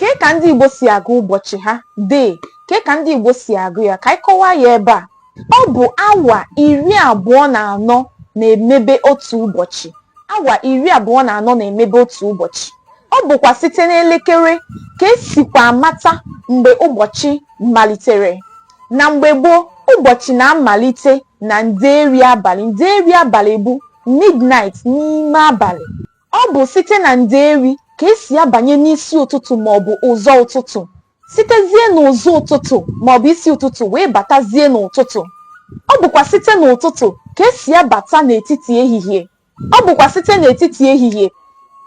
Kee ka ndị Igbo si agụ ụbọchị ha? Dee, kee ka ndị Igbo si agụ ya? Ka anyị kọwaa ya ebe a. Ọ bụ awa iri abụọ na anọ na-emebe otu ụbọchị. Awa iri abụọ na anọ na-emebe otu ụbọchị. Ọ bụkwa site n'elekere ka esikwa amata mgbe ụbọchị malitere. Na mgbe gboo, ụbọchị na-amalite na ndeeri abalị. Ndeeri abalị bụ midnight n'ime abalị. Ọ bụ site na Ndeeri ka e si abanye n'isi ụtụtụ maọbụ ụzọ ụtụtụ, sitezie n'ụzọ ụtụtụ maọbụ isi ụtụtụ wee batazie n'ụtụtụ. Ọ bụkwa site n'ụtụtụ ka e si abata n'etiti ehihie. Ọ bụkwa site n'etiti ehihie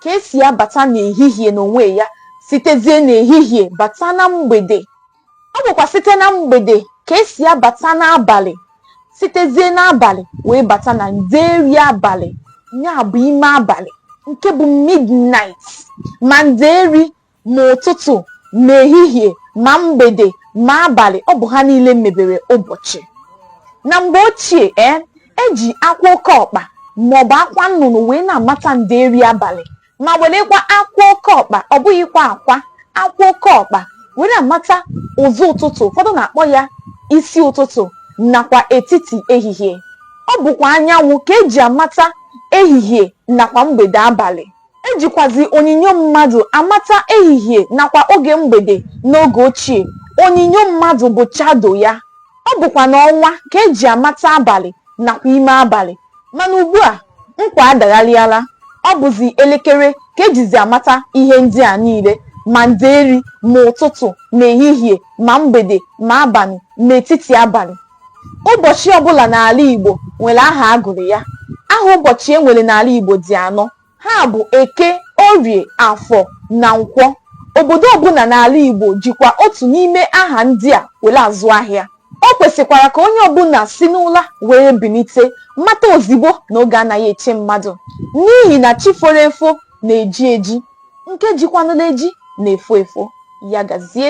ka e si abata n'ehihie n'onwe ya, sitezie n'ehihie bata na mgbede. ọ bụkwa site na mgbede ka esi abata n'abalị sitezie n'abalị wee bata na ndeeri abalị ya bụ ime abalị nke bụ midnight ma ndeeri ma ụtụtụ ma ehihie ma mgbede ma abalị ọ bụ ha niile mebere ụbọchị na mgbe ochie ee eji akwa oke ọkpa maọbụ akwa nnụnụ wee na-amata ndeeri abalị ma werekwa akwa oke ọkpa ọ bụghịkwa akwa akwa oke ọkpa were amata ụzọ ụtụtụ ụfọdụ na-akpọ ya isi ụtụtụ nakwa etiti ehihie ọ bụkwa anyanwụ ka eji amata ehihie nakwa mgbede abalị ejikwazi onyinyo mmadụ amata ehihie nakwa oge mgbede n'oge ochie onyinyo mmadụ bụ shadow ya Ọ bụkwa n'ọnwa ka e ji amata abalị nakwa ime abalị. Mana ugbu a, nkwa adagharịala. Ọ bụzi elekere ka e jizi amata ihe ndị a niile, ma ndeeri, ma ụtụtụ, ma ehihie, ma mgbede, ma abalị, ma etiti abalị. Ụbọchị ọbụla n'ala Igbo nwere aha a gụrụ ya. Aha ụbọchị e nwere n'ala Igbo dị anọ. ha bụ Eke, Orie, Afọ na Nkwọ. Obodo ọbụla n'ala Igbo jikwa otu n'ime aha ndị a were azụ ahịa. O kwesịkwara ka onye ọbụla si n'ụla wee bilite mata ozigbo na oge anaghị eche mmadụ n'ihi na chi foro efo na-eji eji, nke jikwanụla eji na-efo efo. Ya gazie.